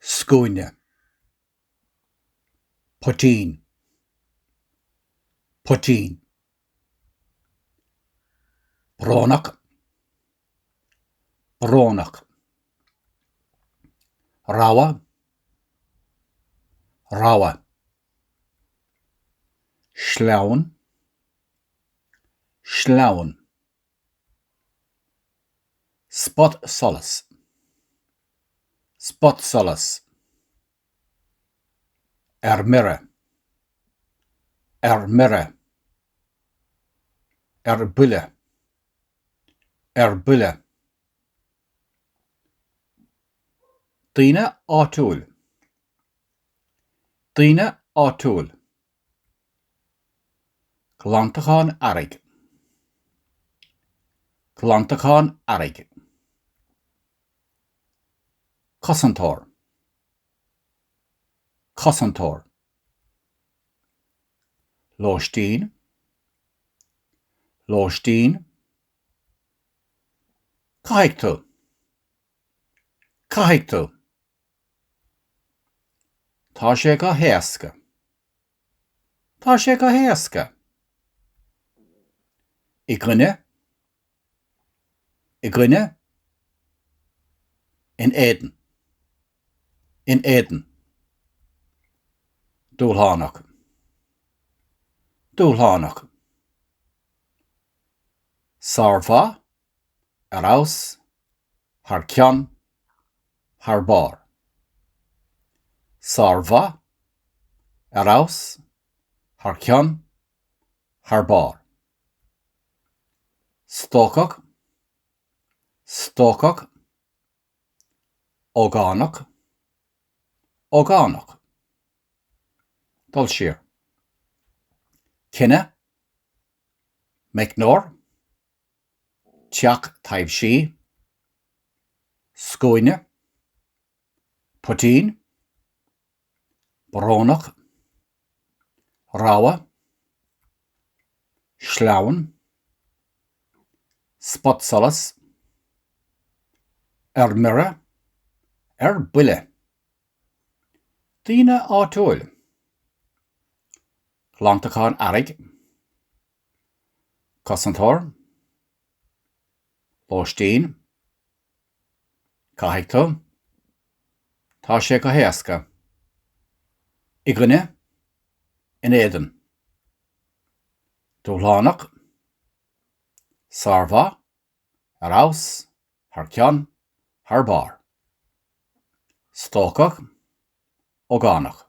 scuaine, poitín, poitín, brónach, brónach, rogha, rogha, sleamhain, sleamhain. Spotsolas. Spotsolas. Ar mire. Ar mire. Ar buile. Ar buile. Daoine áitiúil. Daoine áitiúil. Glantachán Earraigh Glantachán Earraigh Cosantóir Cosantóir Lóistín Lóistín Caithfidh tú Caithfidh tú Tá sé go héasca. Tá sé go héasca. I gcoinne. I gcoinne. In éadan. In éadan. Dúshlánach. Dúshlánach. Sármhaith, Ar fheabhas, thar cionn, thar barr. Sármhaith, ar fheabhas, thar cionn, thar barr. Stócach, stócach. Ógánach, ógánach. Dul siar. Cine, meicneoir. teach taibhsí, scuaine, poitín, brónach, rogha, sleamhain, spotsolas, ar mire, ar buile, daoine áitiúil, glantachán earraigh, Cosantóir. Lóistín. Caithfidh tú. Tá sé go héasca. I gcoinne. In éadan. Dúshlánach. Sármhaith. Ar fheabhas. Thar cionn. Thar barr. Stócach. Ógánach.